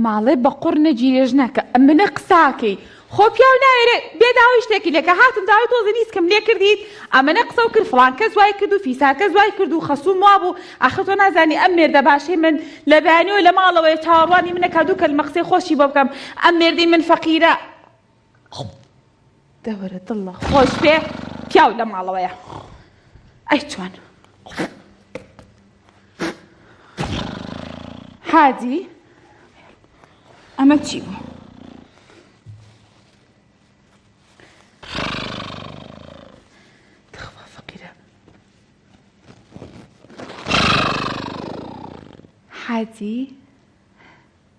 ماڵێ بە قوڕ نەگیرێژ ناکە ئەمنە قساکەی خۆ پیاو ناوێرێ بێ داوای شتێکی لەکە هاتم داوای تۆزی نیسکم لێ کردیت ئەمەە قسە و کرد فڵان کەس وای کرد و فیساکە زوای کرد و خەسووم وابوو ئاخر تۆ نازانی ئەم مێردە باشەی من لە بەیانەوە لە ماڵەوەی چاوەڕوانی منە کا دوو کەلمە قسەی خۆشی بۆ بکەم ئەم مێردەی من فەقیرە دەوەرە دڵە خۆش بێ پیاو لە ماڵەوەیە ئەی چۆن هادی ئەمە چی بوو حاجی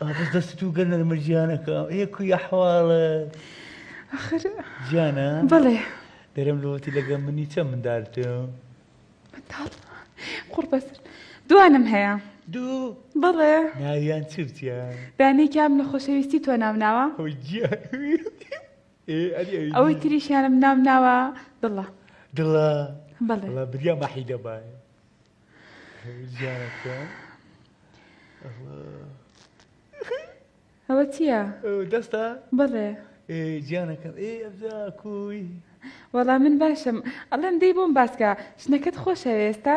ئابس دەستو گە نەرمە جیانەکە ئێ کوی ئەحواڵە ئەخر جیانە بەڵێ دەرم لەوەتی لەگە منی چە مندالتم منداڵ قوڕ بەسر دوانم هەیە دوو بەڵێ ناویان چرتە دانێکیان لە خۆشەویستی تۆ ناو ناوە ئەوەی تریشیانم ناو ناوە دڵە دڵە بەڵێ بریا مەحی دەبایە ئەوە چییە؟ دەستە؟ بەڵێ گیانەکەم ئێ ئەبدا کوی وەڵا من باشم ئەڵێم دەی بۆم باسکە شنەکەت خۆشە ئێستا؟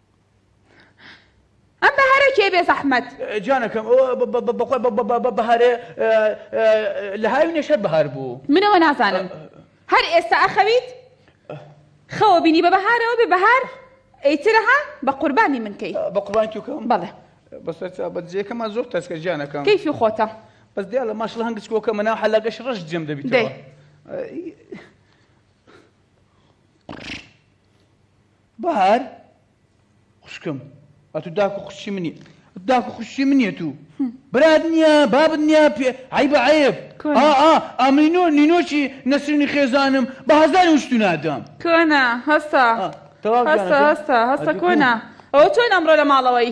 ئەم بەهارە کێ بێ زەحمەت. گیانەکەم بەخوای بە بەهارێ لە هاوینێش هەر بەهار بوو. منەوە نازانم هەر ئێستا ئەخەویت خەوە بینی بە بەهارەوە بێ بەهار ئەیترە ها بە قوربانی من کەی بە قوربانی تو کەم بەڵێ بەسەر بە جێکەمان زۆر تەسکە گیانەکەم کەیفی خۆتە بەس دیا لە ماشڵ هەنگچ کۆکە منە حەلاگەش ڕەش جێم دەبیتەوە بەهار خوشکم ئەتو داکو خوشی منی داکو خوشی منیە تو برات نییە بابت نییە پێ عیبە عیب ئامینۆ نینۆکی نەسرینی خێزانم بە هەزاری وشتو نادەم کۆنا هەسا هەسا هەسا هەسا کۆنا ئەوە چۆن ئەمڕۆ لە ماڵەوەی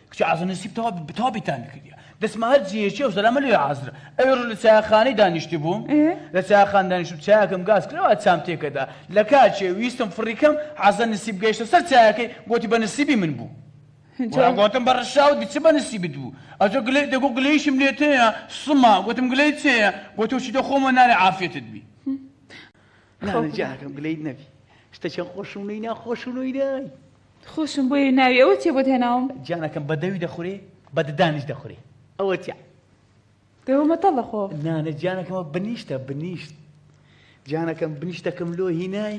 کچە عازر نسیب تەوا تەوا بیتامی کردیە دەسمە هەر جێیەکی ئەو زەلامە لێ عازرە ئەوێ ڕۆژ لە چایەخانەی دانیشتی بووم لە چایەخان دانیشتم چایەکەم گاز کرەوە چام تێکەدا لە کاچێ ویستم فڕیکەم عازە نسیب گەیشتە سەر چایەکەی گۆتی بە نسیبی من بوو جواب گۆتم بە ڕشاوت بچ بە نسیبت بوو ئەجۆ گلەی دەگۆ گلەیشم لێ تێە سما گۆتم گلەی چێە گۆتۆ چی دە خۆمە نارێ عافێتت بی نانە جاکەم گلەیت نەبی شتە چەند خۆشم نەی ناخۆشم نەی نای خۆشم بۆیە ناوی ئەوە چیە بۆت هێناوم. گیانەکەم بە دەوی دەخورێ بە ددانیش دەخورێ ئەوە چیە. دەوە مەتەڵە خۆ. نا نا گیانەکەمە بنیشتە بنیشت گیانەکەم بنیشتەکەم لۆ هینای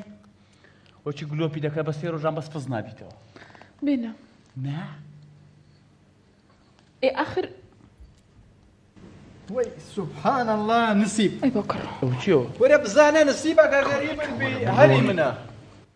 وە چی گلۆپی دەکات بە سێ ڕۆژان بەس پز نابیتەوە. بێنە. نا. ئێ ئاخر وەی سبحان الله نسیب ئەی بۆ کڕ. ئەو چیەوە. وەرە بزانە نسیبەکە غەریبن بی هەلی منە.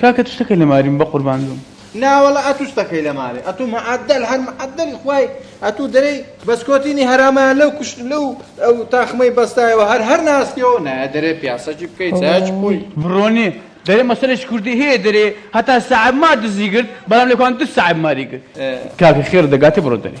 کاکە تو شتەکەی لە ماریم بەقوربان بم. ناوەڵا ئەتو شتەکەی لە مارێ ئەتو معدل هەر معدلی خوای ئەتو دەرەی بەسکۆتینی هەرامیان لەو کوشت لەو ئەو تاخمەی بەستایەوە هەر هەر ناسیەوە نایە دەرێ پیاسەجی بکەیت چاچ بووی بڕۆنێ دەرێ مەسەرش کوردی هەیە دەرێ هەتا سەعب ما دزی گرت بەڵام لەکوان دو سەعب ماری گرت کاکە خێر دەگاتێ بڕۆ دەرێ.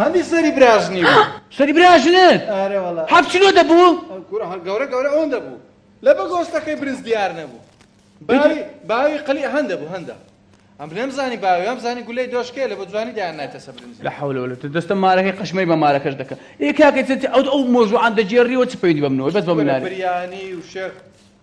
هەندی سەری براژنی بوو سەری براژنت ئارە وەڵا هەفت کیلۆ دەبوو کورە هەر گەورە گەورە ئەوەن دەبوو لە بە گۆستەکەی برنج دیار نەبوو باوی باوی قلی هەندە بوو هەندە ئەم بنێم زانی باویان زانی گولەی دۆشکێ لە بە جوانی دایان نایتە سە برنج لە حول ولا دەستە مارەکەی قشمەی بە مارەکەش دەکە ئێ کاکە ئەو ئەو مۆژوعان دەجێڕیەوە چ پەیوەندی بەمنەوە بەس بە مناری بریانی و شێخ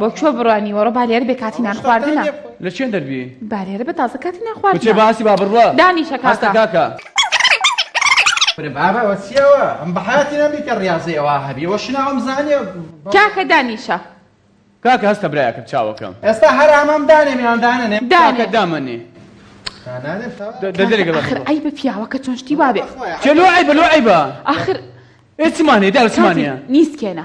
بۆ کوێ بڕوانی وەڕۆ بالێر بێ کاتی نان خواردنە لە چێن دەربی بالێرە بە تازە کاتی نان خواردنە چێ باسی با بڕوە دانیشە کاکە کاکە بابا وەچیەوە ئەم بەحاتی نەبی کە ڕاضی ئەوە هەبی وە شناوم زانیە کاکە دانیشە کاکە هەستە برایەکەم چاوەکەم ئێستا هەرامام دانێ میان دانێ داکە دامەنێ دەدەێک ئەخر ئەی بە پیاوەکە چۆن شتی وابێ چلو ئەی بلو ئەی بە ئاخر ئێسمانێ داوسمانە نیسکێنە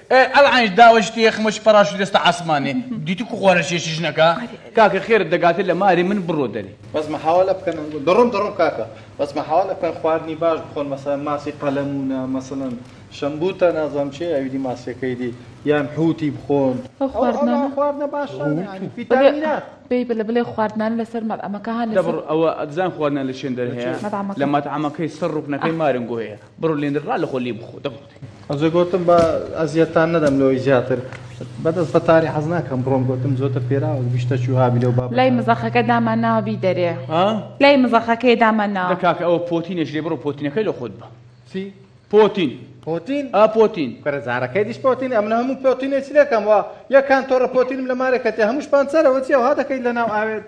ئێ ئەلعەین داوە شتێ خمەچ پەراشوت دەستە عاسمانێ دیتو کو خوارە شێشی ژنەکە. کاکە خێرت دەگاتێ لە ماری من بڕۆ دەرێ. بەس محاوەلە بکەن دەڕۆم دەڕۆم کاکە بەس محاوەلە بکەن خواردنی باش بخۆن مەسەلەن ماسی قەلەمونە مەسەلەن شەمبوتە نازانم چیە ئەویدی ماسیەکەی دی یان حوتی بخۆن ئەو خواردنانە خواردنە باشانە یانی فیتامینات بەی بلە بلێ خواردنانە لەسەر مەتعەمەکە هان لەسەر دەبڕ ئەوە ئەتزان خواردنە لە چێندەر هەیە مەتعەمەکە لە مەتعەمەکەی سەر ڕوکنەکەی مارنگۆیە بڕۆ لێ را لە خۆ لێ بخۆ دە بخۆ. ئەجە گۆتم با ئەزیەتان نەدەم لەوەی زیاتر بەدەست بە تاری حەز ناکەم بڕۆم گۆتم زۆتر پێراوە گشتە چوو هابی لەو باب لای مزەخەکە دامان ناوە بی دەرێ لای مزەخەکەی دامان ناوە کاکە ئەوە پۆتینێش لێ بڕۆ پۆتینەکەی لە خۆت بە چی پۆتین پۆتین ئا پۆتین کەرە زارەکەی دیش پۆتین ئەم لە هەموو پۆتینێ چ لەکەم وە یەکان تۆڕە پۆتینم لە مارێکەتێ هەمووش پانسەرەوە چی ئەوها دەکەیت لە ناو ئاوێت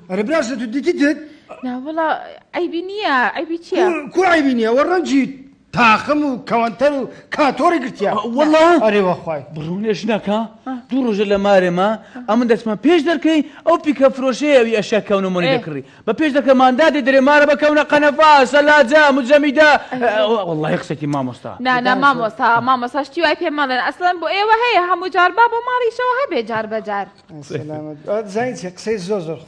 ئەرێ برا شە تو دیتی تت. ناوەڵا عەیبی نییە عەیبی چییە؟ کو عەیبی نییە وە ڕەنجی تاقم و کەوەنتەر و کاتۆڕی گرتیە وەڵا ئەرێ وەخوای بڕونێ ژنەکە دوو ڕۆژە لە مارێ ما ئەمن دەچمە پێش دەرکەی ئەو پیکە فرۆشەیە ئەوی ئەشیا کەونە مۆنی دەکڕی بە پێش دەکە ماندا دێ دەرێ مارە بە کەونە قەنەفا سەلاجە مجەمیدە وەڵای قسەکی مامۆستا نانا مامۆستا مامۆستا شتی وای پێ مەڵێن ئەسڵەن بۆ ئێوە هەیە هەموو جار با بۆ ماڵیشەوە هەبێ جار بەجار زانیت قسەی زۆر زۆر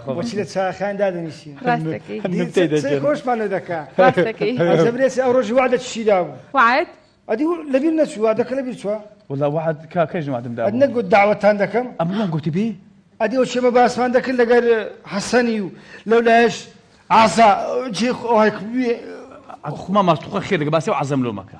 خۆشی لە چاخان دادنیشی خۆشمان دەکە زەبرێسی ئەو ڕۆژی وادە چیدا بوو وعد ئەدی لەبیر نەچوو وادەکە لەبیر چوە وڵا وعد کاکەش وادمدا نەگوت داوەتان دەکەم ئەمڵان گوتی بی ئەدی ئەو شێمە باسمان دەکرد لەگەر حەسەنی و لەو لایش ئازا جێ خۆی ئەخما ماستوخە خێ دەگە باسی و عزم لۆمەکە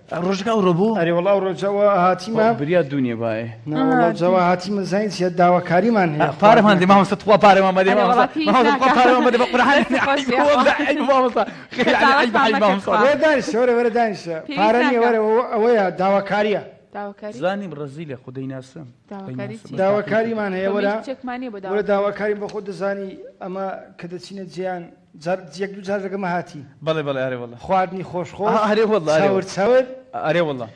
ڕۆژەکە ئەوڕۆ بوو ئەرێ وەڵا ئەوڕۆ جەوە هاتیمە بریا دوونیە باێ جەوە هاتیمە زین چیە داواکاریمان هەیە پارەمان دێ مامۆستا تخوا پارەمان مەدێ مامۆستا پارەمان مەدێ بە قورعان وەرە دانیشە وەرە وەرە دانیشە پارە نیە وەرە ئەوەیە داواکاریە زانی بڕزی لە خودەی ناسم داواکاریمان هەیە وەرە داواکاریم بە خۆ دەزانی ئەمە کە دەچینە جیان جار یەک دوو جار لەگەڵ مەهاتی. بەڵێ بەڵێ ئەرێ واللە. خواردنی خۆش خۆش. ئەها ئەرێ واللە ئەرێ واللە. چەور چەور. ئەرێ واللە.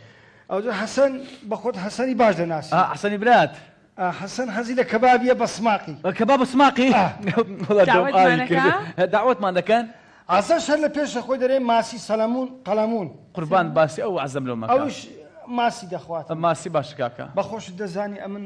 ئەوجا حەسەن بە خۆت حەسەنی باش دەناسی. ئا حەسەنی برات. ئا حەسەن حەزی لە کەبابیە بە سماقی. کەباب بە سماقی؟ ئا. وەڵا دەم ئاوی کرد. دەعوەتمان دەکەن. عەزەش هەر لە پێشە خۆی دەرێ ماسی سەلەمون قەلەمون. قوربان باسی ئەو عەزەم لۆ مەکە. ئەوش ماسی دەخوات. ماسی باشە کاکە. بە خۆشت دەزانی ئەمن.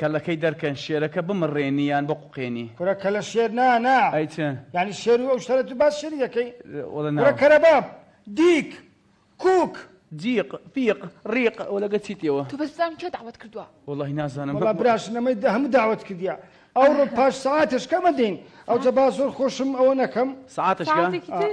کەلەکەی دەرکەن شێرەکە بمڕێنی یان بقوقێنی. کورە کەلە شێر نا نا. ئەی چ. یانی شێر و ئەو شتانە تو باس شێری دەکەی؟ وەڵە نا. کورە کەرەباب. دیک. کوک. جیق. فیق. ڕیق. وەلە گە چیتی ئەوە. تو بەس بزانم کێ دەعوەت کردوە. وەڵاهی نازانم. وەڵا براش نەمەی دە هەموو داوەت کردیە ئەوڕۆ پاش سەعاتێش کەمە دێین ئەوجە با زۆر خۆشم ئەوە نەکەم. سەعاتێش کە؟ سەعاتێکی تر.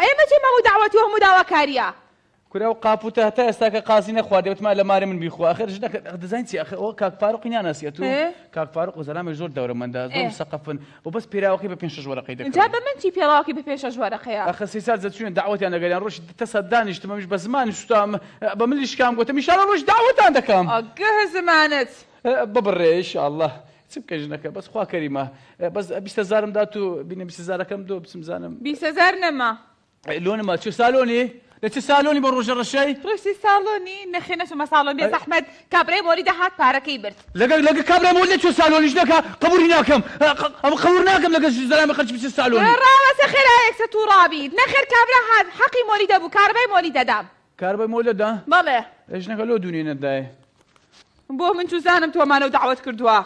ئەیە مەچێ مەموو دەعوەتی و هەموو داواکاریە. کورە ئەو قاپ و تە هەتا ئێستا کە قازی نەخواردی ئەوتما لە ماری من بیخوا ئەخر ژنەکەت ئەخ دەزانی چی ئەخر ئەوە کاک فاروقی ناناسی ئەتو کاک فاروق وزەلامێک زۆر دەورەمەندە زۆر مسەقەفن ئەو بەس پێراوەکەی بە پێنج شەش وەرەقەی دەکڕی ئینجا بە من چی پێڵاوەکەی بە پێنج شەش وەرەقەیە. ئەخر سەی سات دەچووینە دەعوەتیان دەگەریان ڕۆژی تە سات دانیشتم ئەمیش بە زمانم سوتام بە ملی شکام گۆتم ئیشاڵا ڕۆژی دەعوەتان دەکەم. ئەگه زمانت. ببڕێ ئیشاڵا چ بکەین ژنەکە بەس خوا کەریمە بەس بیست هەزارم دات و بینە بیست هەزارەکەم دۆ بچم زانم بیست هەزار نەما لۆ نەما چ سالۆنی لە چ سالۆنی بە ڕۆژە ڕەشەی ڕۆیسی ساڵۆنی نەخێ نەچوومە ساڵۆن بێ زەحمەت کابرای مۆری دەهات پارەکەی برد لەگەڵ لەگە کابرای مۆری چ سالۆنی ژنەکە قبولی ناکەم ها، ق- ئەمە قبول ناکەم لەگە زەلامی خەرچ بچ سالۆنی ڕاوەسە خێرایەکسە تووڕابیت نەخێر کابرا هات حەقی مۆری دەبوو کارەبای مۆری دەدام کار بە مۆلە دا؟ بەڵێ. ئێ ژنەکە لۆ دوو نێنەت دایێ؟ بۆ من چوزانم تۆ مانەو دەعوەت کردوە؟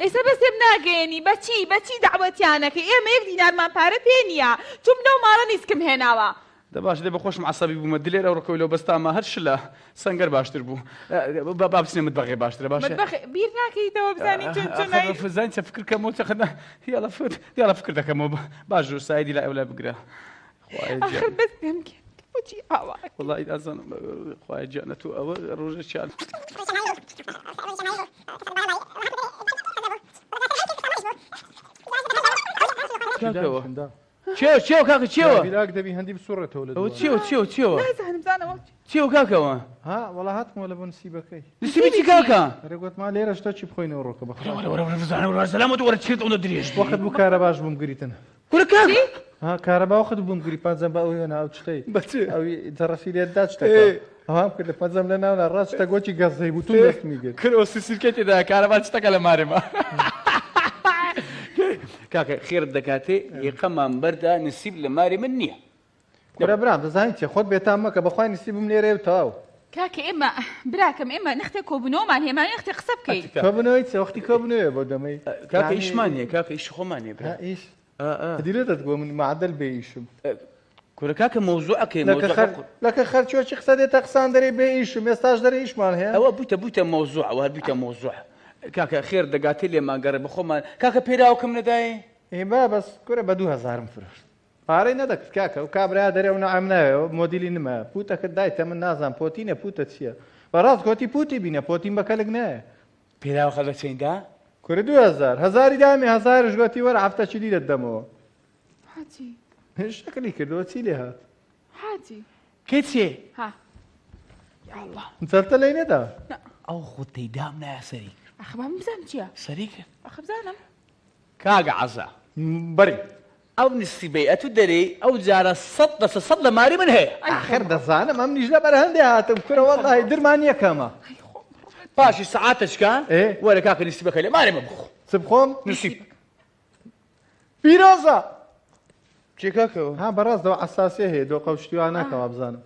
ئێسە بەس تێم ناگەیەنی بە چی بە چی دەعوەتیان ئەکەی ئێمە یەک دینارمان پارە پێ نیە توم لەو ماڵە نیسکم هێناوە. دە باشە دە بە خۆشم عەسەبی بومە دلێر ئەو ڕکەوی لەو بەس تامە هەر شلە سەنگەر باشتر بوو با با بچنە متبەغێ باشترە باشە متبەخ بیر ناکەیتەوە بزانی چون چون ئەخەر ئەی فزان چە فکر کەمەوە چە خەنە یاڵە فت یاڵە فکر دەکەمەوە باش جور سایدی لای ئەو لای بگرە ئاخر بەس پێم بکە بۆچی ئاوا وڵی ئازانم خوای گیانە تو ئەوە ڕۆژێکیان کاکەوە چێو چێو کاکە چێوە بیراک دەبی هەندی بسوڕێتەوە لە ئەوە دووە. چێو چێو چێوە نازانم زانەوە چێو کاکەوە ها وەڵا هاتمەوە لە بۆ نسیبەکەی نسیبی چی کاکە رێگوتما لێرە شتا چی بخۆینەوە ڕۆکە بەخۆ وەرە وەرە وەرە بزانە وەرە سەلامەت وەرە چێت ئەوە درێژ وەخت بوو کارە باش بووم گریتن کورە کاک چی؟ ها کارەباو خت بووم گری پەنجەم بە ئەو هێنا ئەو چتەی بە چ؟ ئەوی تەڕەفی لێت دا چتەکە ئێ. ئەوام کردە پەنجەم لە ناونا ڕاست چتە گۆچی گەزەی بوو توو دەستمی گرت کورە ئۆسی سیرکەی تێدایە کارەبا چتەکە لە مارێ ما کاکە خێرت دەکاتێ یەقەمان بەردا نسیب لە مارێ من نییە کورە برام دەزانی چیە خۆت بێتام مەکە بەخوای نسیبم لێرەیە و تەواو. کاکە ئێمە براکەم ئێمە نەختێ کۆبونەوەمان هەیە ماوی نەختێ قسە بکەین. کۆبونەوەی چ وەختی کۆبونەوەیە بۆ دەمەی. کاکە ئیشمان هەیە کاکە ئیشی خۆمان هەیە برا. ئیش دیلێ دەت گۆ من معدل بێ ئیشم. کورە کاکە مەوزوعەکەی لەکە خەرچۆ چی قسە دێتە قسان دەرێ بێ ئیشم ئێستاش دەرێ ئیشمان هەیە ئەوە بوویتە بوویتە مەوزوع ئەوە هەر بوویتە مەوزوع کاکە خێر دەگاتێ لێمان گەڕێ بەخۆمان کاکە پێراوکم نەدایێ ئێ با بەس کورە بە دوو هەزارم فرۆشت پارەی نەدەکرد کاکە ئەو کابرایە دەرێ ئەو نەعەم ناوێ ئەو مۆدیلی نمە پووتەکرد دایتە من نازانم پۆتینە پووتە چییە بە ڕاست گۆتی پووتی بینە پۆتین بە کەلک نایە پێراوخە لە چەین دا؟ کوری دوو هەزار هەزاری دامی هەزارش گۆتی وەرە هەفتە چی لیرەت دەمەوە حاجی شەکلی کردەوە چی لێ هات حاجی کچێ ها یا الله جەلتە لەی نەدا نا ئەو خۆت تێدام نایە سەری کرد ئەخە با من بزانم چییە سەری کرد ئەخە بزانم کاگە عەزا بەری ئەو نصفی بەیعەت و دەرێی ئەو جارە سەد لەسەر سەد لە ماری من هەیە. ئاخر دەزانم ئەمنیش لەبەر هەندێ هاتم کورە وەڵاهی درمان یەکەمە. پاشی سەعاتەچکە وەرە کاکە نسیبەکە لێ مارێ مە بخۆ. چ بخۆم؟ نسیب. پیرۆزە. چی کاکە؟ ها بەڕاست دەوا عەساسیە هەیە دۆقە و شتی واناکە وابزانم.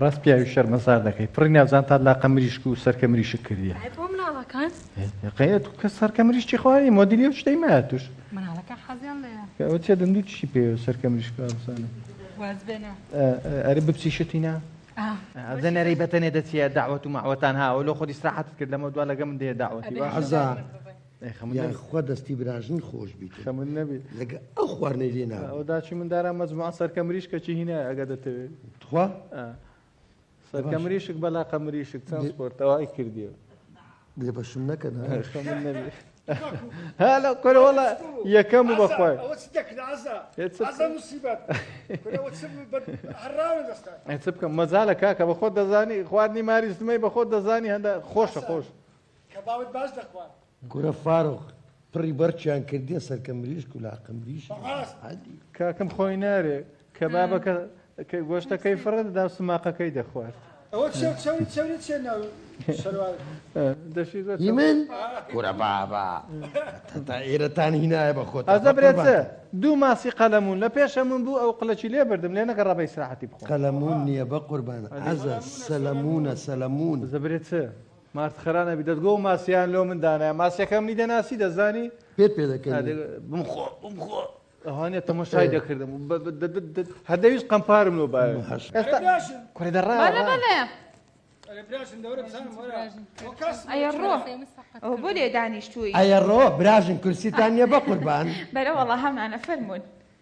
ڕاست پیاوی شەرمەزار دەکەی پڕی ناوزان تا لاقە مریشک و سەرکە مریشک کردیە بۆ مناڵەکان قەیەت کە سەرکە مریشتی خوارێ مۆدیلی و شتەی مایە توش مناڵەکە حەزیان لێە کە ئەو چێ دەندوو چی پێ سەرکە مریشک بزانە ئەرە بپسی شتینا زەنەرەی بەتەنێ دەچیە داوەت و ماوەتان هاوە لۆ خۆ دیسراحەتت کرد لەمە دوا لەگە من دێ داوەتی عزا یان خوا دەستی براژن خۆش بیت خەمن نەبی لەگە ئەو خواردنەی لێ ناوە ئەو داچی من دارا مەجموعە سەرکە مریشکە چی هینا ئەگە دەتەوێت تخوا سەرکە مریشک بەلا قە مریشک چەند سپۆرتەوای کردیەوە بێ بەشم نەکەن خەمن نەبی هەلا قەرەوەڵە یەکەم و بەخوای چ بکەم مەزالە کاکە بە خۆت دەزانی خواردنی ماریستمەی بە خۆت دەزانی هەندە خۆشە خۆش کەبابت باش دەخوارد. کورە فارغ پڕی بەڕچیان کردیە سەرکە مریشک و لاقە مریشک بەڕاست. حەدی. کاکم خۆی نارێ کەبابەکە کە گۆشتەکەی فڕێ دەدا سوماقەکەی دەخوارد. ئەوە چەور چەوری چەوری چیە ناو شەروار. دەشی زۆر هی چەور. من؟ کورە بابە تەتە ئێرەتان هینایە بە خۆتان ئەزە برێ چ بەقوربانتان. دوو ماسی قەلەموون لە پێشەمون بوو ئەو قلەچی لێ بردم لێ نەگەڕا بە ئیسراحەتی بخۆم. قەلەموون نیە بەقوربانت ئەزە سەلەموونە سەلەموون. ئەزە برێ چ مارت خەرا نەبی دەتگۆ ماسیان لۆ من دانای ماسیەکە منی دەناسی دەزانی پێت پێ دەکەن بمخۆ بمخۆ ئەوانە تەمەشای دەکردم هەدەویست قەمپارم لۆ باێ کوێ دەڕا ئەوە بۆ لێ دانیشتووی ئەیە ڕۆ براژن کورسیتان نیە بە قوربان بەرەوەڵە هەمانە فەرمونون.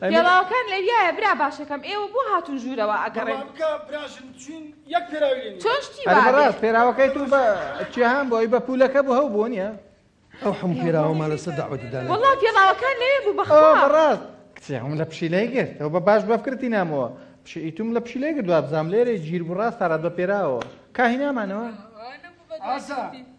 پێڵاوەکان لەویایە برا باشەکەم ئێوە بۆ هاتون ژوورەوە ئەگەڕێن. بڕوا بکە براژن چوین یەک پێراوی لێ نیە. چۆن شتی وا بێ. پێراوەکەی تو بە چیا هان بوە ئەوی بە پولەکە بو هەو بو نیە. ئەو حەموو پێراوەمان لەسەر دەعوەتی دانێ. وەڵا پێڵاوەکان لەوێ بوو بەخوا. ئەوە بەڕاست کچێ ئەوم لە پشیلەی گرت ئەوە بە باش بەفکرتی نامەوە پشی ئیتوم لە پشیلەی گرت وابزانم لێرەی ژیر بوو ڕاست تا ڕات بە پێراوەوە کا هینامانەوە. ئاسا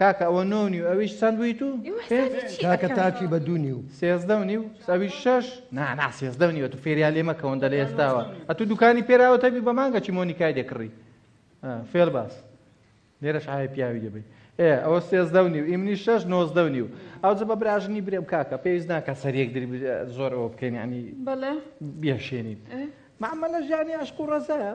کاکە ئەوە نۆ و نیو ئەویش چەند بوویت و ئێوە پێ حسابی چی کاکە ئەکەن؟ تاچی بە دوو نیو سێزدە و نیو ئەویش شەش نا نا سێزدە و نیو ئەتوو فێریا لێ مەکەون دە لە ئێستاوە ئەتوو دوکانی پێراوە تەبی بە مانگە چی مۆنیکای دێ کڕی ئا، فێڵ باس لێرەش ئاوی پیاوی دەبی ئێ ئەوە سێزدە و نیو ئی منی شەش نۆزدە و نیو ئەوجە بە براژنی برێم کاکە پێویست ناکە سەر یەک دری بر- زۆر ئەوە بکەین یعنی بەڵێ بێشێنین ئێ. معاملە ژانی عشق و ڕەزایە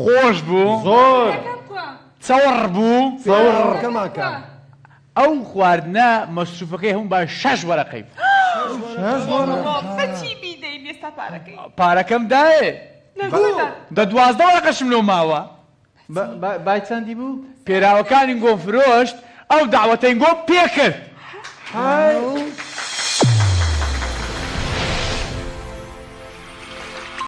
خۆش بوو زۆر چەوەڕ بوو ئەو خواردنە مەسروفەکەی هەموو بە شەش وەرەقەی پارەکەم دایێ دە دوازدە وەرەقەشم لۆ ماوە بای چەندی بوو پێراوەکانی گۆ فرۆشت ئەو داوەتەین گۆ پێکرد